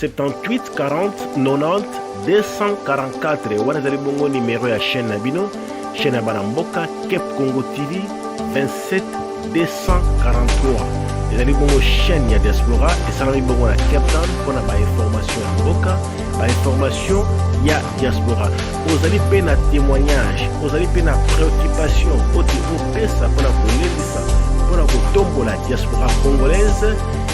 78 40 90 244 wana ezali bongo nimero ya chaîne na bino chaîne ya bana mboka cap congo tv 27 243 ezali bongo chaîne ya diaspora esalami bongo na cape town mpo na bainformation ya mboka bainformation ya diaspora ozali mpe na témoignage ozali mpe na préoccupation oyo te opesa mpo na kolendisa mpo na kotombola diaspora congolaise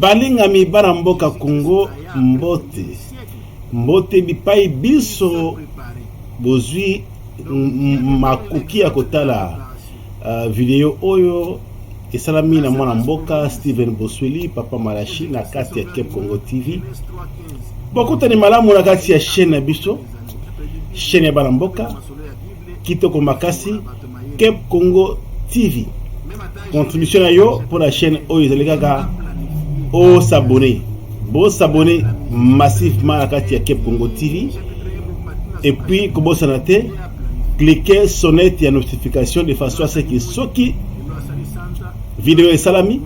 Balingami bana mboka Congo, mbote mbote bipai biso bozwi makoki ya kotala uh, video oyo esalami na mwana mboka Steven Bosweli papa Malashi na kati ya Cape Congo TV. Bokutani malamu na kati ya chaîne na biso, chaîne ya bana mboka. Kitoko makasi Kep Congo TV contribution na yo mpo na chaîne oyo ezali kaka o s'abonner bo s'abonner massivement na kati ya Kep Congo TV et puis kobosana te cliquer sonnette ya notification de façon à ce que soki video esalami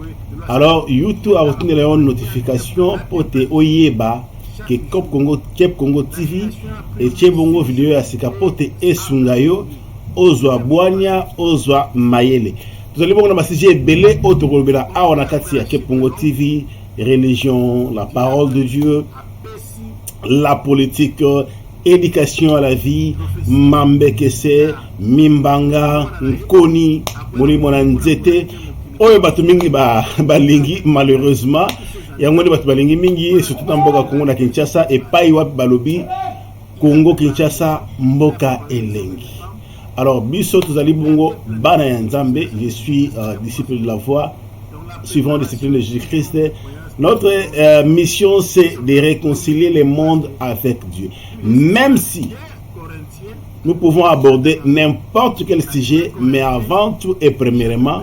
alors youtube akotindela yo notification mpo te oyeba ke Cop Congo Cep Congo TV etie bongo video ya sika mpo te esunga yo ozwa bwanya ozwa mayele tozali bongo na basije ebele oyo tokolobela awa na kati ya Cep Congo TV religion la parole de Dieu la politique éducation à la vie mambekese mimbanga nkoni molimo na nzete oyo bato mingi balingi ba malheureusement yango nde bato balingi mingi esutu na mboka kongo na kinshasa epai wapi balobi kongo kinshasa mboka elengi alors biso tozali bongo bana ya nzambe je suis uh, disciple de la voix suivant discipline de jésus christ notre uh, mission c'est de réconcilier le monde avec dieu même si nous pouvons aborder n'importe quel sujet mais avant tout et premièrement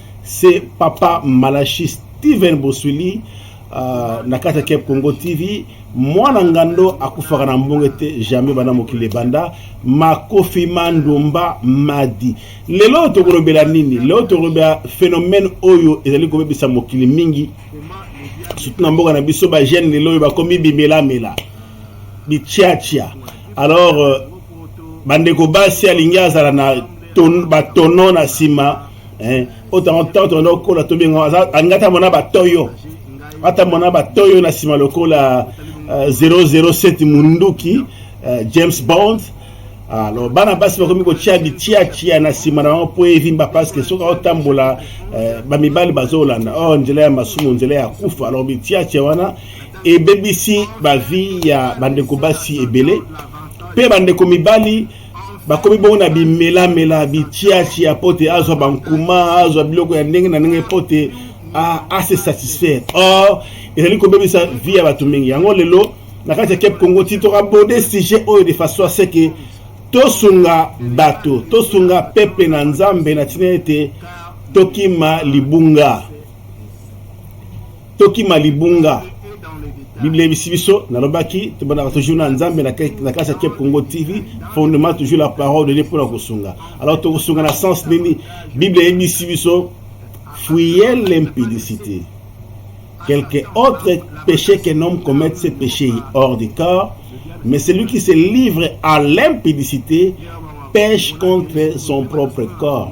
C'est Papa Malachi Steven Boswili uh, na kati ya Cap Congo TV. Mwana ngando akufaka na mbongo te jamais bana mokili ebanda makofi mandumba madi. Lelo tokolobela nini? Lelo tokolobela phénomène oyo ezali kobebisa mokili mingi surtout na mboka na biso ba jeune lelo oyo bakomi bimelamela bichiachia alors euh, bandeko basi alingi azala na batono na nsima eh o tango tango tona okola to benga aza angata mona ba toyo ata mona ba toyo na sima lokola uh, eh, 007 munduki uh, James Bond alors bana basi bakomi kotia bitiatia na nsima na bango mpo evimba parceke soki aotambola eh, bamibali bazolanda o oh, nzela ya masumu nzela ya kufa alors bitiatia wana ebebisi bavie ya bandeko basi ebele mpe bandeko mibali bakomi bongo na bimelamela bitiatia mpo te azwa bankuma azwa biloko ya ndenge na ndenge mpo te ase satisfaire or ezali kobebisa vie ya bato mingi yango lelo na kati ya cape congo ti tokabode sujet oyo de façon aseke tosunga bato tosunga peple na nzambe na ntina ete tokima libunga tokima libunga biblia eyebisi biso nalobaki tobandaka toujours na nzambe na kati ya kep congo tv fondement toujours la parole de dieu mpona kosunga alors tokosunga na sens nini biblia eyebisi biso fuyez l'impudicité quelque autre péché qu'un homme commette ce péché hors du corps mais celui qui se livre à l'impudicité pêche contre son propre corps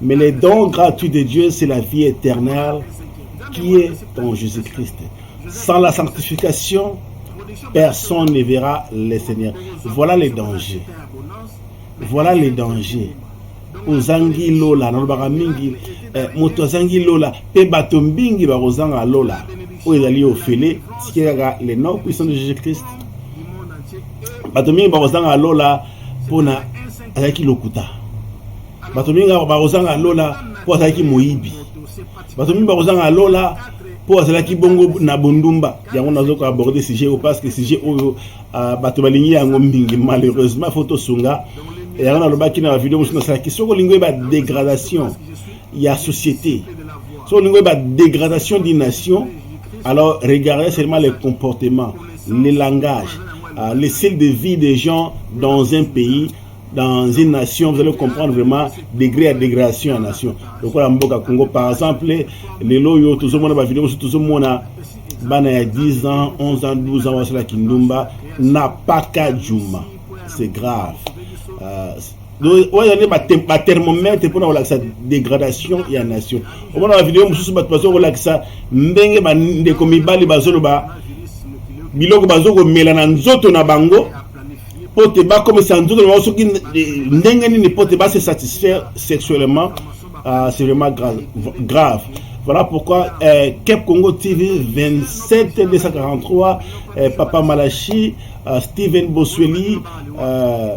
Mais le don gratuit de Dieu, c'est la vie éternelle qui est en Jésus-Christ. Sans la sanctification, personne ne verra le Seigneur. Voilà les dangers. Voilà les dangers. ozangi lola nalobaka mingi eh, moto azangi lola mpe bato mingi bakozanga lola oyo ezali ofele tike kaka le nom puissant de jésus christ bato mingi bakozanga lola mpona azalaki lokuta bato mingi awa bakozanga lola mpo azalaki moyibi bato mingi bakozanga lola mpo azalaki bongo na bondumba yango nazoka aborde sujet oyo parce que sujet oyo ah, bato balingi yango mingi malheureusement fo tosunga yango nalobaki na bavideo mosusu nasalaki soki olingi oyeba dégradation ya société soki olingi oyeba dégradation d'une nation alors regardez seulement le comportement le langage ah, le style de vie des gens dans un pays dans une nation, vous allez comprendre vraiment degré à dégradation à nation. Donc voilà Mboka Congo, par exemple, les loyaux, tout le monde va vidéo, tout le monde a bana ya 10 ans, 11 ans, 12 ans, wasala kindumba, n'a pas qu'à Juma. C'est grave. Euh, donc, ouais, il y a ba thermomètre pour avoir la dégradation et la nation. Au moins, la vidéo, je suis pas de façon, voilà que ça, mbenge, ba, ndeko, mibali, bazolo, ba, biloko, bazoko, mela, na, nzoto, na, bango, mpo te bakomisa nzoto na bango soki ndenge nini mpo te base satisfaire sexuellement uh, c'est vraiment grave, grave. Voilà pourquoi euh, Cap Congo TV 27 243, euh, Papa Malachi, euh, Steven Bosweli, euh,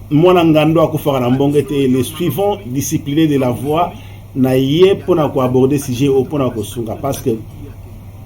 Mwana Ngando akufaka na mbongo ete les suivants disciplinés de la voix na ye mpona koaborde sujet oyo mpona kosunga parce que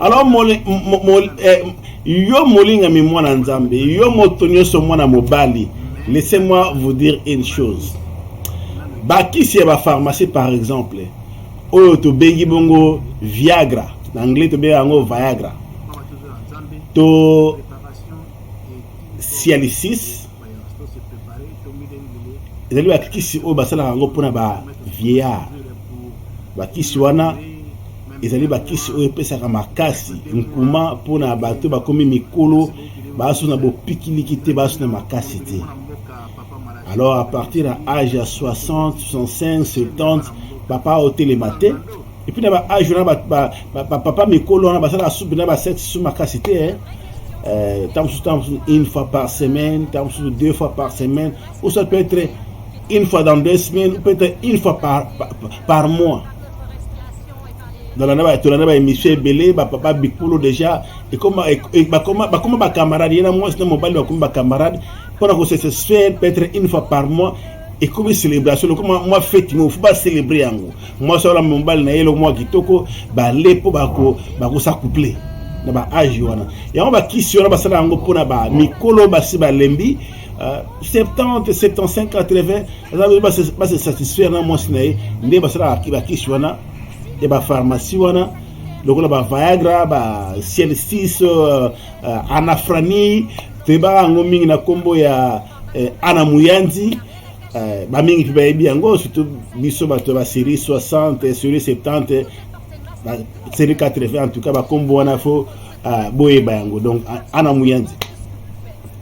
alors mole, mo, mo, eh, yo molingami mwana nzambe yo moto nyonso mwana mobali laissez moi vous dire une chose bakisi ya bapharmacie par exemple oyo tobengi bongo viagra na anglais tobengi yango viagra to cialisis ezali bakisi oyo basalaka yango mpona ba vieillard bakisi wana ezali bakisi oyo epesaka makasi nkuma mpo na bato bakomi mikolo baso na bopikiliki te baso na makasi te alors à partir ya age ya 60 65 70 papa otelema te epuis na baage wana bapapa mikolo wana basalaka supe na basete su makasi te eh. euh, ntango mosusu ntango mosusu une fois par semaine ntango mosusu deux fois par semaine ou ça peut être une fois dans deux semaines ou peut être une fois par, par, par mois nalanda ba tolanda ba émission ebele ba papa bikolo déjà ekoma bakoma bakoma ba camarade ye na mwasi na mobali bakoma ba camarade mpona ko se satisfaire peut-être une fois par mois ekomi celebration lokoma mwa feti ngo fo bacelebre yango mwasi wana mobali na ye loko mwa kitoko bale mpo bakosacouple na baage wana yango bakisi wana basala yango mpona bamikolo basi balembi Uh, 70 75 80 aza base ba satisfaire na mwasi na ye nde basalaka bakisi wana ya bapharmacie wana lokola ba viagra ba ciel 6 uh, uh, anafrani toyebaka yango mingi na nkombo ya uh, ana muyanzi uh, bamingi mpe bayebi yango surtout biso bato ya baserie 60 serie 70 serie 80 en tout cas bakombo wana fo Ah, boyeba yango donc ana muyanzi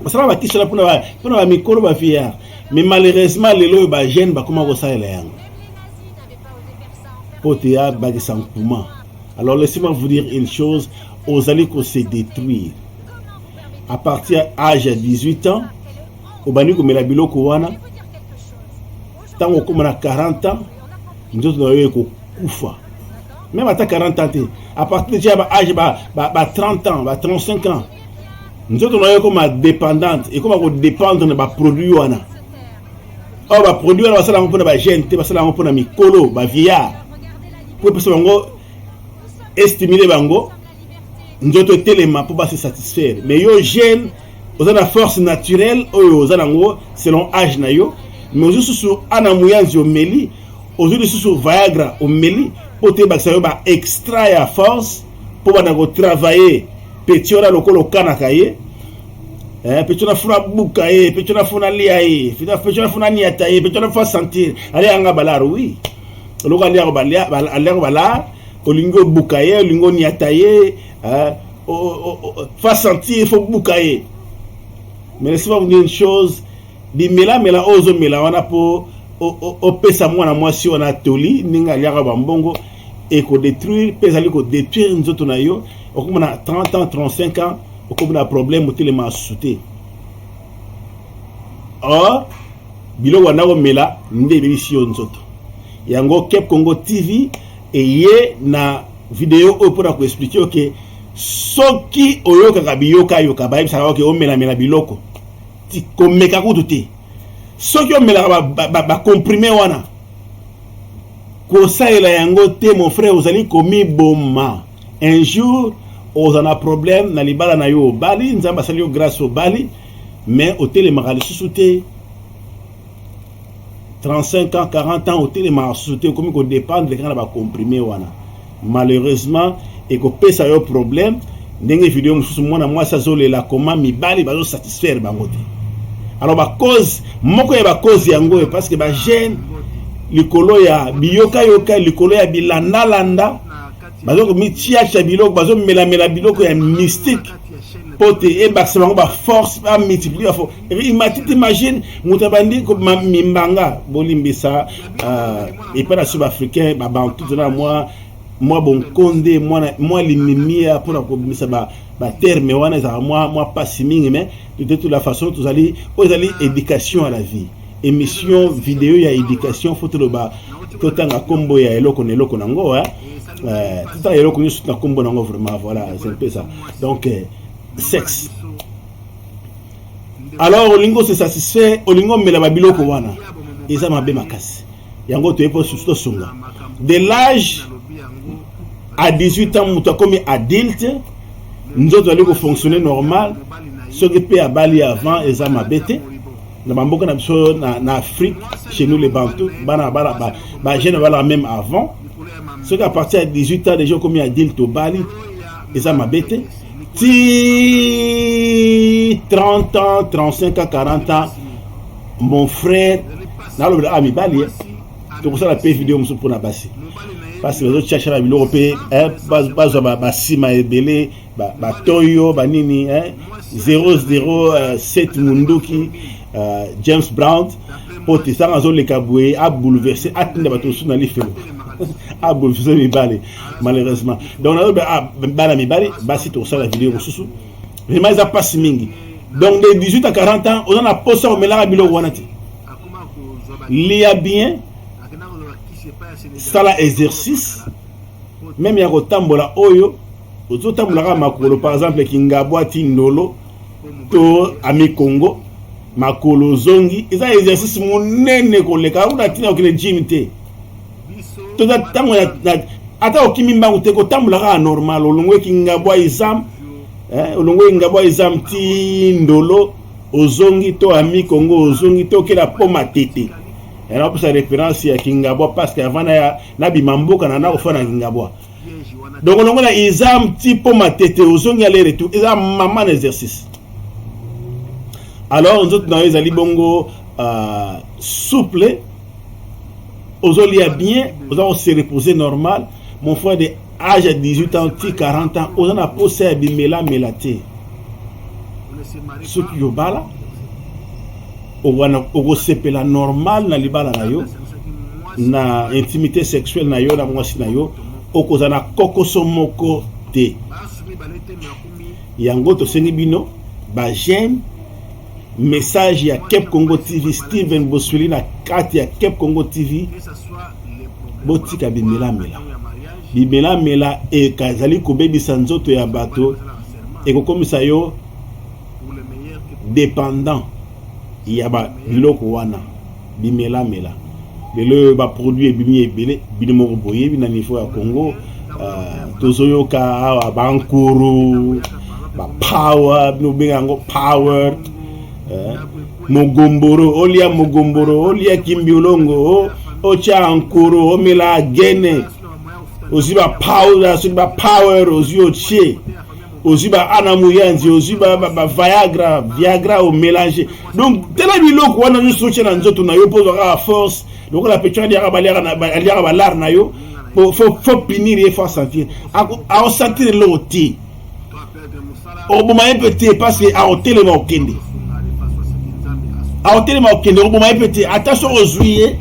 basala batisela mpona mpona bamikolo bafiyar mais malheureusement lelo oyo bajeune bakoma kosalela yango mpo te abakisa nkuma alors laissez-moi vous dire une chose ozali kose détruire à partir ya age ya 18 ans obandi komela biloko wana ntango okoma na 40 ans nzoto na yo ekokufa meme ata 40 ans te à partir deja ya ba age ba, ba, ba 30 ans ba 35 ans nzoto na yo ekoma dépendante ekoma kodépendre na baproduit wana oyo baproduit wana basala yango mpona bagene te basala yango mpona mikolo bavieillard mpo epesa bango estimule bango nzoto etelema mpo base satisfaire mais yo jeune oza na force naturelle oyo oza nango selon age na yo mais ozwi susu ana muyanzi omeli ozwi lisusu viagra omeli mpo te ebakisa yo ba extra ya force mpo banda kotravaille peti wana lokola okanaka ye Eh, pecho nafuna buka ye eh, pecho nafuna lia ye eh, pecho nafuna niata ye eh, pecho nafuna sentir ale yanga balaro wi oui. eloko alia ko balia alia ko bala olingi obuka ye olingi oniata ye fa sentir faut buka ye mais laisse pas vous dire une chose bimelamela oyo ozomela wana mpo opesa mwana mwasi wana toli ndenge aliaka bambongo ekodetruire mpe ezali kodetruire nzoto na yo okoma na 30 ans 35 ans okoma na problème otelema asusu te oh biloko banda komela nde ebebisi yo nzoto yango cap congo tv eye na video oyo mpona koexplike yo ke soki oyokaka biyokayoka bayebisaka oke omelamela biloko komeka kutu te soki omelaka bacomprime wana kosalela yango te mon frère ozali komiboma un jour oza na problème na libala na yo obali nzambe asali yo grâce obali mais otelemaka lisusu te 35 ans 40 ans otelemaka lisusu te okomi kodépendre kaka na bacomprime wana malheureusement ekopesa yo problème ndenge video mosusu mwana mwasi azolela koma mibali bazosatisfaire bango te alors bacause moko ya bacause yango oyo parce que bagene likolo ya biyokayoka likolo ya bilandalanda baza komitiatia biloko bazomelamela biloko ya mystique mpo te ebakisa bango baforce bamultiplie bafo imatiti machine moto abandi mimbanga bolimbisa euh, epai na sub africain babantu tona mwa mwa bonkonde mwa limimia mpo na kobimisa baterme wana ezalaka mwa mpasi mingi mais de toute la façon tozali oyo ezali éducation à la vie Emission video ya education faut toloba totanga kombo ya eloko na eloko nango hein. Euh, totanga eloko nyonso na kombo nango vraiment voilà c'est un peu ça. Donc euh, sexe alors olingi ose satisfait olingi omela babiloko wana eza mabe makasi yango toye mpo susu tosunga de l'âge à 18 ans moto akomi adulte nzoto ali kofonctionne normal soki mpe abali avant eza mabe te na bamboka na biso na afrique chez nous les bantou bana bala bagene balaka même avant soki à partir ya 18 ans déjà okomi adulte obali eza mabe te ti 30 ans 35 ans 40 ans mon frère nalobela a ah, mibali eh. tokosala mpe video mosusu mpo na basi basi bazotyashana biloko mpe eh, bazwa basima ebele ba, ba toyo ba nini hein? 007 munduki uh, James Brown mpo te sanga azoleka boye abouleverse atinda bato mosusu na lifelo abouleverse mibale malheureusement donc nazobe ah, bana mibale basi tokosala video mosusu vraiment eza mpasi mingi donc de 18 à 40 ans oza na posa omelaka biloko wana te lia bien sala exercice meme ya kotambola oyo ozotambola kaka makolo par exemple kingabwa ti ndolo to ami congo makolo ozongi eza exercice monene koleka una ntina okende gym te toza ntango ata okimi mbangu te kotambola kaka normal olongwe kingabwa izam eh, olongwe kingabwa izam ti ndolo ozongi to ami congo ozongi to okela po matete yanapesa reference ya kingabwa parce que avant nabima mboka na nakofana kingabwa donc longola eza mti mpo matete ozongi ale retour eza mama na exercice alors nzoto na yo ezali bongo uh, souple ozolia bien oza kose reposer normal mon frère de age ya 18 ans ti 40 ans oza na posa ya bimelamela te soki yobala wana okosepela normal na libala na yo na intimité sexuelle na yo na mwasi na yo okozala na kokoso moko te yango tosengi bino bajeme message ya cap congo tv steven bosweli na kati ya cap congo tv botika bimelamela bimelamela ezali kobebisa nzoto ya bato ekokomisa yo dependant ya ba biloko wana bimelamela lelo oyo baproduit ebimi ebele bino moko boyebi na niveau ya congo uh, tozoyoka awa bankuru bapower bino bobenga yango power uh, mogomboro olia mogomboro olia kimbiolongo otya nkuru omela gene ozwi bapower soki bapower ozwi otye ozwi ba ana muyanzi ozwi ba, ba, ba viagra viagra omelange donc tala biloko wana nyonso otya na nzoto na yo mpo ozwaka force lokola pecho aliaka aliaka balare na yo fo pinir ye fo asentir aosentir eloko te okoboma ye mpe te parce que aotelema okende aotelema okende okoboma ye mpe te ata soki ozwi ye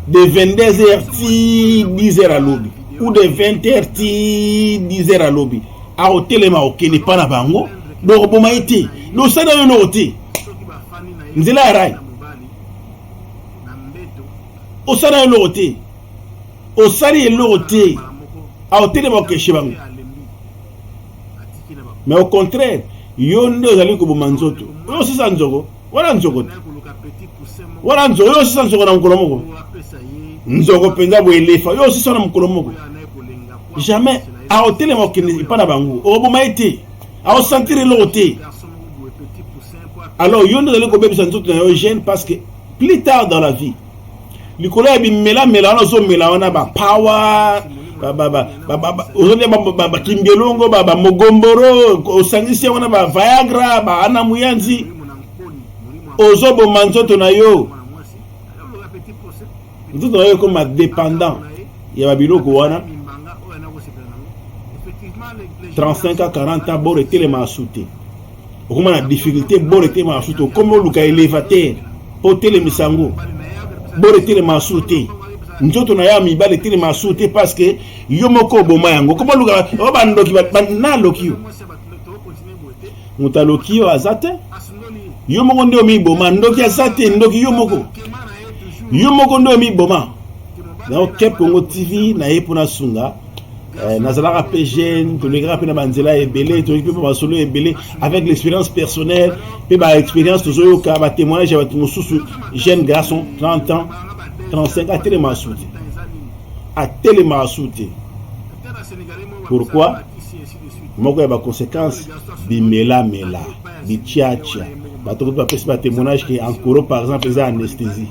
de 22 heures ti 10 heures alobi ou de 20 heures ti 10 heures alobi akotelema okende epa na bango dokoboma ye te dosala yo eloko te nzela ya rai osala eloko te osali eloko te aotelema okeshe bango mais au contraire yo nde ozali koboma nzoto oyo osisa nzoko Wana nzoko te. Wana nzoko yo sisa nzoko na mokolo moko. Nzoko penza bo elefa yo sisa na mokolo moko. Jamais aotelema okende epai na bango okoboma ye te aosantire eloko te alors yo nde ozali kobebisa nzoto na yo jeune parce que plus tard dans la vie likolo ya bimelamela wana ozomela wana bapower ozolia bakimbielongo bamogomboro osangisi yango na baviagra baana muyanzi ozoboma nzoto na yo nzoto na yo ekoma dépendant ya babiloko wana 35 a 40 ans boro etelema asu te okoma na difficulté bord etelema na suto okomi oluka elevateur mpo otelemisa yango bord etelema na sur te nzoto na ya mibali etelema na sur te parce que yo moko oboma yango okomi oluka o bandoki naloki yo moto aloki yo aza te yo moko nde omiboma ndoki aza te ndoki yo moko yo moko nde omiboma donc cap congo tv naye mpo nasunga Eh, nazalaka mpe jeune tolekaka mpe na banzela ebele toyoki mpe mpe masolo ebele avec l'expérience personnelle mpe baexpérience tozoyoka batémoignage ya bato mosusu jeune garçon 30 ans 35 atelema asu te atelema asu te pourquoi moko ya baconséquence bimelamela bitiatia bato koki bapesi batémoignage ke ankoro par exemple eza anesthésie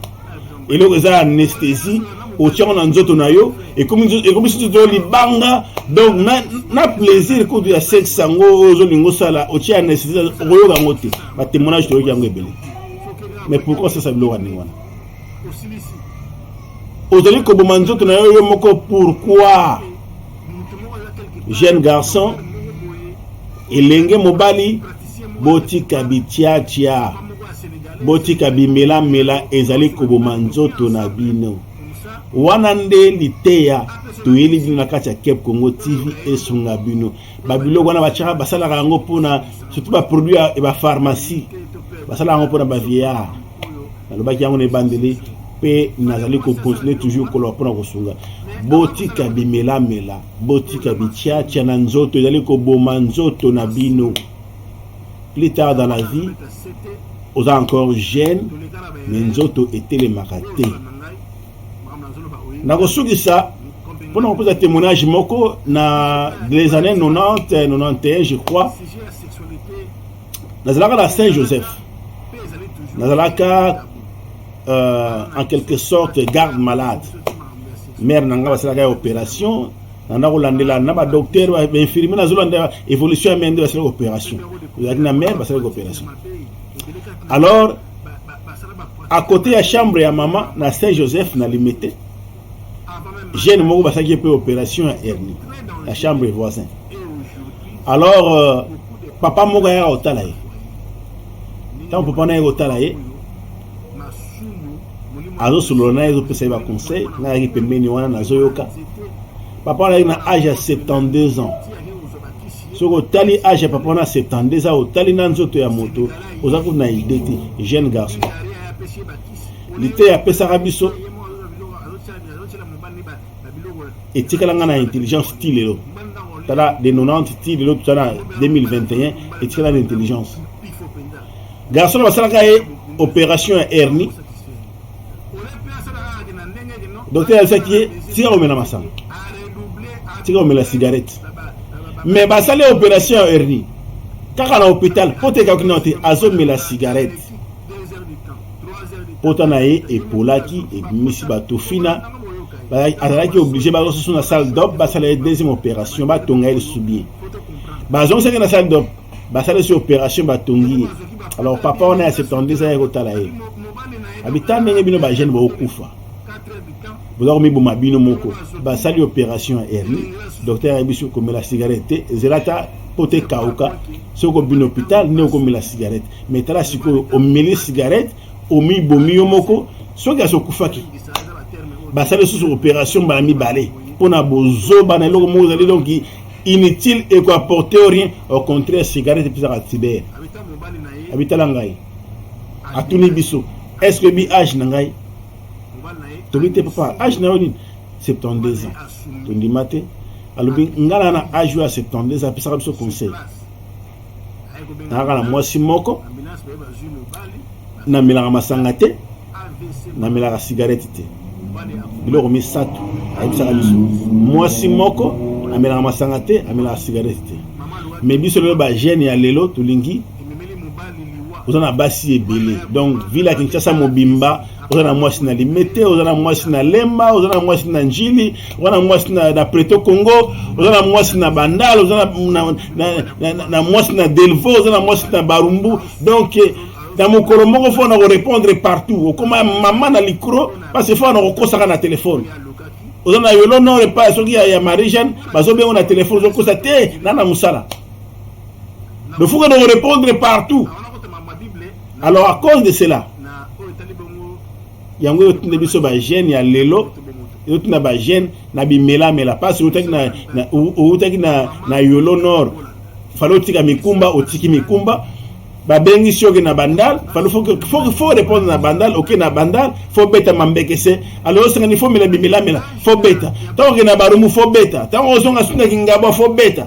eloko eza anesthésie otiango na nzoto na yo ekomi soki to libanga donc na, na plaisir kutu ya sexe yango oyo ozolinga osala otie anesthésie okoyoka yango te batémoignage toyoki yango ebele mais pourquoi sasa biloko ya ndenge wana ozali koboma nzoto na yo yo moko pourquoi jeune garçon elenge mobali Botika bitiatia, botika bimelamela ezali koboma nzoto na bino. Wana nde liteya toyeli bino na kati ya Cap Congo TV esunga bino. Ba biloko wana batiaka basalaka yango mpona surtout ba produit ya ba pharmacie basalaka yango mpona ba vieillard nalobaki yango na ebandeli mpe nazali kokontinue toujours koloba mpona kosunga botika bimelamela botika bitiatia na nzoto ezali koboma nzoto na bino plus tard dans la vie oza encore jeune me nzoto etelemaka te nakosukisa mpona kopesa témoignage moko na les années 90 91 je crois nazalaka na saint joseph nazalaka euh, en quelque sorte garde malade mare na ngai basalaka ya opération nanda kolandela na badocteur bainfirmier nazolanda évolution ya mare nde basalaka opération ezalaki na mare basalaki opération alors à côté ya chambre ya mama na saint joseph na limete jeune moko basalaki ye mpe opération ya hernie ya chambre et voisin alors euh, papa moko ayaka kotala ye ntango papa na ye kotala ye azosolola na ye ezopesa ye baconseil nayaki pembeni wana nazoyoka papa wana ayaki na age ya 72 ans soki otali age ya papa wana 72 ans otali na nzoto ya moto oza kutu na idée te jeune garçon liteya apesaka biso etikala nga na intelligence ti lelo tala de 90 ti lelo tuza na 2021 etikala na intelligence garçon na basalaka ye opération ya hernie docteur ayebisaki ye tika komela masanga tika komela cigarette mais basali opération ya hernie kaka na hôpital mpo te ekaki nao te azomela cigarette pota na ye epolaki ebimisi bato fina azalaki oblige baza susu na salle dop basala ye deuxième opération batonga ye lisusu bie bazongisaki na salle dop basala esi opération batongi ye alors papa wana ya 72 ayaki kotala ye abita ndenge bino bajeune bokokufa boza komiboma bino moko basali opération ya hernie docteur ayebi biso komela cigarette te ezela ata mpo te kauka soki obini hôpital nde okomela cigarette mais tala sikoyo omeli cigarette omibomi yo moko soki asi okufaki basali lisusu opération mbala mibale mpo na bozoba na eloko moko ozali donc inutile ekoaporte rien au contraire cigarette epesaka tibere abitala ngai atuni biso est ce que bi age na ngai tobi te papa age na yo nini 72 ans tondima te alobi nga na na age oyo ya 72 apesaka biso conseil nayaka na mwasi moko namelaka masanga te namelaka sigarete te biloko misato ayebisaka biso mwasi moko amelaka masanga te amelaka sigarete te me biso lelo bagene ya lelo tolingi oza na basi ebele donc ville ya kinshasa mobimba oza na mwasi na limete oza na mwasi na lemba oza na mwasi na njili oza na mwasi na, na preto congo oza na mwasi na bandal oza na, na, na, na, na, na mwasi na delvo oza na mwasi na barumbu donc na mokolo moko fo na korepondre partout okoma mama na likro parce fo na kokosaka na telefone oza na yolo nore pa soki ya, ya marie jeanne bazobengo na telefone ozokosa te na na mosala lofuka na korepondre partout Alors à cause de cela, yango oyo tuna biso ba jeune ya lelo yo tuna ba jeune na bimela mela pasi outaki na outaki na na yolo nord falo tika mikumba otiki mikumba babengisi oke na bandal fo répondre na bandal oke na bandal fo beta mambekese alors osengani fo mela bimelamela fo beta ntango oke na barumu fo beta ntango ozonga suna kingabwa fo beta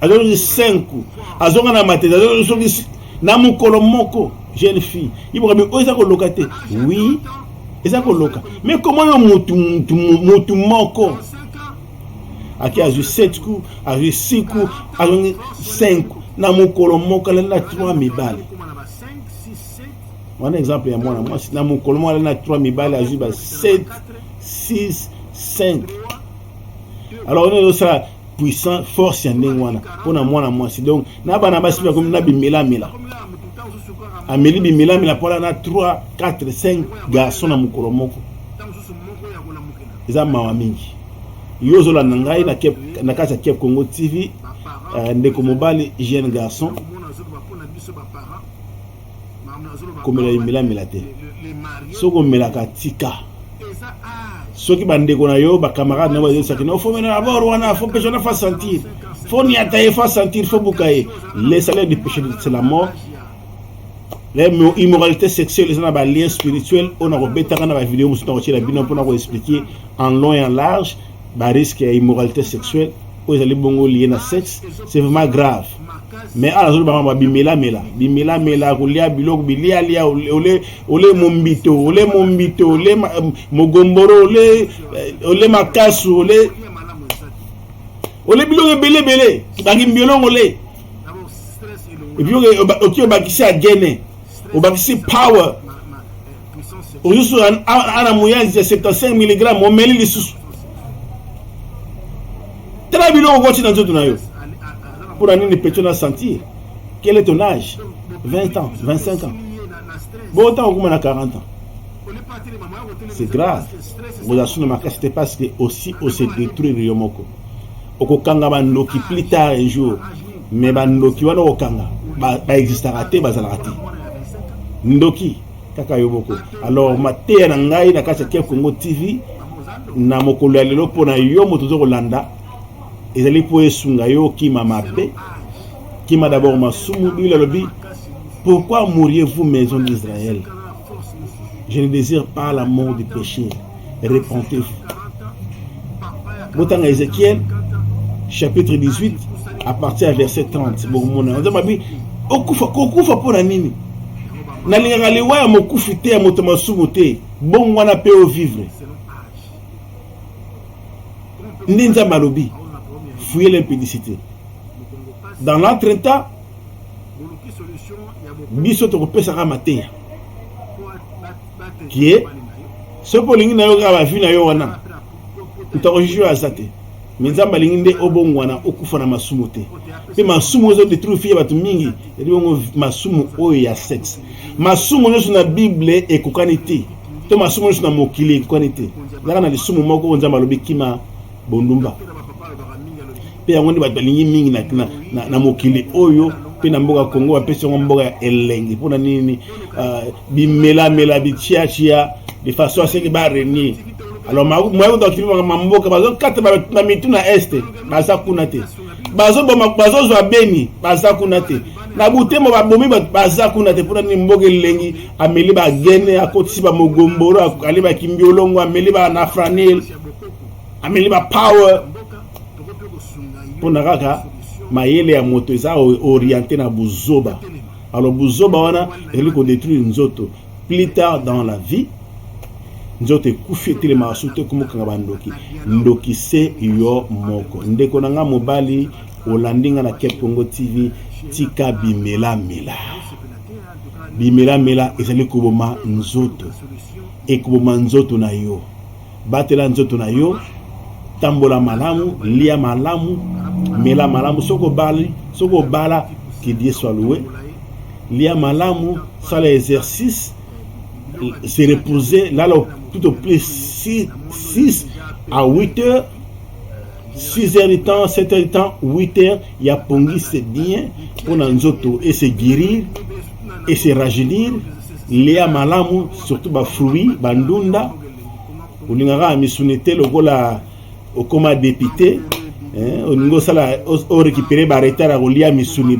azozongi 5 azonga na matete azozongi na mokolo moko jeune fille iboka oyo eza koloka te oui eza koloka mais koma yo mutu mutu mutu moko ake azwi 7 coup azwi 6 coup azongi 5 coup na mokolo moko alali na 3 mibale wana exemple ya mwana mwasi na mokolo moko alali na 3 mibale azwi ba 7 6 5 alors on est au puissant force ya ndenge wana mpo na mwana mwasi donc na bana basi mpe akomi na bimelamela ameli bimelamela mpo na 3 4 5 garçon na mokolo moko eza mawa mingi yo ozolanda ngai na kati ya cap congo tv euh, ndeko mobali jeune garçon komela limelamela te soki omelaka tika soki bandeko na yo bacamarade na yo bazosaki no fo mena abord wana fo mpe zona fa sentir fo niata ye fa sentir fo buka ye le salaire du péché c'est la mort immoralité sexuelle eza na balien spirituel oyo nakobetaka na bavideo mosusu nakotyela bino mpona koexplike en long et en large ba risque ya immoralité sexuelle oyo ezali bongo liye na sexe c'est vraiment grave mais ala azoloba mama bimelamela bimelamela kolia biloko bilialia ole ole mombito ole mombito ole euh, mogomboro ole euh, ole makasu ole ole biloko ebele ebele bangi mbiolongo ole epi oki obakisi agene obakisi power ozusu ana muyanzi ya 75 mg omeli lisusu tala biloko koti na nzoto na yo mpo na nini petio na sentir quel est ton âge 20 ans 25 ans bo ntango okoma na 40 ans c'est grave okozala suna makasi te parce que aussi ose détruire yo moko okokanga bandoki plus tard un jour mais bandoki wana okokanga baexistaka ba te bazalaka te ndoki kaka yo moko alors mateya na ngai na kati ya Ken Kongo TV na mokolo ya lelo mpo na yo moto ozo kolanda ezali mpo esunga yo okima mabe kima d'abord masumu biblia alobi pourquoi mouriez-vous maison d'israël je ne désire pas la mort du péché repentez botanga ezekiel chapitre 18 à partir ya verset 30 bokomona oza mabi okufa kokufa mpo na nini nalingaka liwa ya mokufi te ya moto masumu te bongo wana mpe ovivre nde nzambe alobi fouye l'impudicité dans l'entre temps biso tokopesaka mateya kie soki olingi na yo kaka bavi na yo wana moto akojije aza te me nzambe alingi nde obongwana okufa na masumu te mpe masumu ozo detruire fille ya bato mingi yali bongo masumu oyo ya sexe masumu nyonso na bible ekokani te to masumu nyonso na mokili ekokani te ezalaka na lisumu moko oyo nzambe alobi kima bondumba mpe yango nde bato balingi mingi na, na, na, na mokili oyo mpe na mboka congo bapesi yango mboka ya elengi mpo na nini uh, bimelamela bitiatia de façon aseke barenie alors moya kuta bakimi makambo mboka bazokata na mitu na este baza kuna te bazoboma bazozwa beni baza kuna te na butemo babomi bato baza kuna te mpona nini mboka elengi ameli bagene akotisi bamogomboro akali bakimbiolongo ameli banafranil ameli ba power mpona kaka mayele ya moto eza oriente na buzoba alors buzoba wana ezali kodetruire nzoto plus tard dans la vie nzoto ekufi etelemaka soki te komokanga bandoki ndoki se yo moko ndeko na ngai mobali olandi ngai na cap congo tv tika bimelamela bimelamela ezali koboma nzoto ekoboma nzoto na yo Batela nzoto na yo, tambola malamu, lia malamu, mela malamu. Soko bali, soko bala, que Dieu soit loué. Lia malamu, sala exercice, se reposer, lala tout au plus 6, 6 à 8 heures 6 heures de temps, 7 heures de temps, 8 heures, il y a pongi, c'est bien, pour nzoto, et se guérir, et se rajeunir, léa malamu, surtout ba fruits, bandunda, olingaka ya misuni te lokola okoma depute eh, olingi osala orécupere baretard ya kolia misuni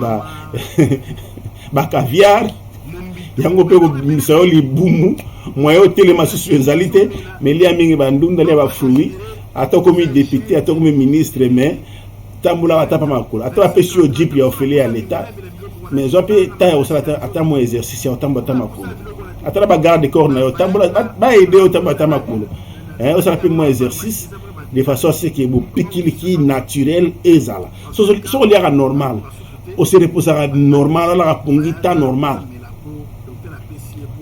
bacaviar yango mpe kobimisa yo libumu moye otelema susu ezali te melia mingi bandunda lia bafruit ata okomi depute ata okomi ministre mais tambolaka ata mpa makolo ata bapesi yo jipe ya ofele ya leta mais zwa mpe ntan ya kosala ata mwa exercice ya kotambola ata makolo ata na bagarde corps na yo tambola baede yo tambola ata makolo eh, osala mpe mwa exercice de façon à ce que bopikiliki naturel ezala soki oliaka normal ose reposaka normal alaka pongi ta normal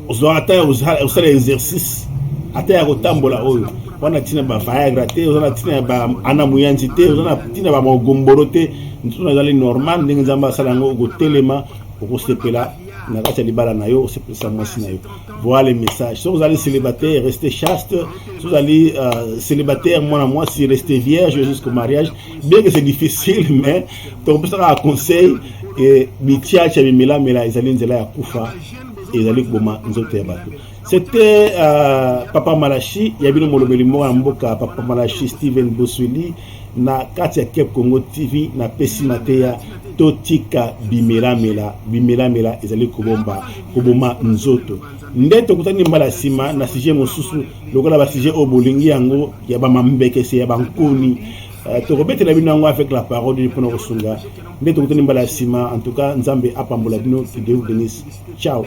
ozwa ata osala exercice ata ya kotambola oyo oza na ntina ba viagra te oza na ntina ya ba ana moyanzi te oza na ntina ba magomboro te ntuna ezali normal ndenge nzambe asala yango okotelema okosepela na kati ya libala na yo osepelisa mwasi na yo voilà le message soki ozali célibataire reste chaste soki ozali euh, célibataire mwana mwasi reste vierge jusqu'au mariage bien que c'est difficile mais tokopesaka conseil ke bitiacha bimelamela ezali nzela ya kufa ezali koboma nzoto ya bato c'était euh, papa malashi ya bino molobeli moko ya mboka papa malashi steven boswili na kati ya cape congo tv napesi mateya totika bimelamela bimelamela ezali kobomba koboma nzoto nde tokutani mbala nsima na sujet mosusu lokola basujet oyo bolingi yango ya bamambekese ya bankoni eh, tokobetela bino yango avec la parole de mpona kosunga nde tokutani mbala ya nsima en tout cas nzambe apambola bino kideu denis ciao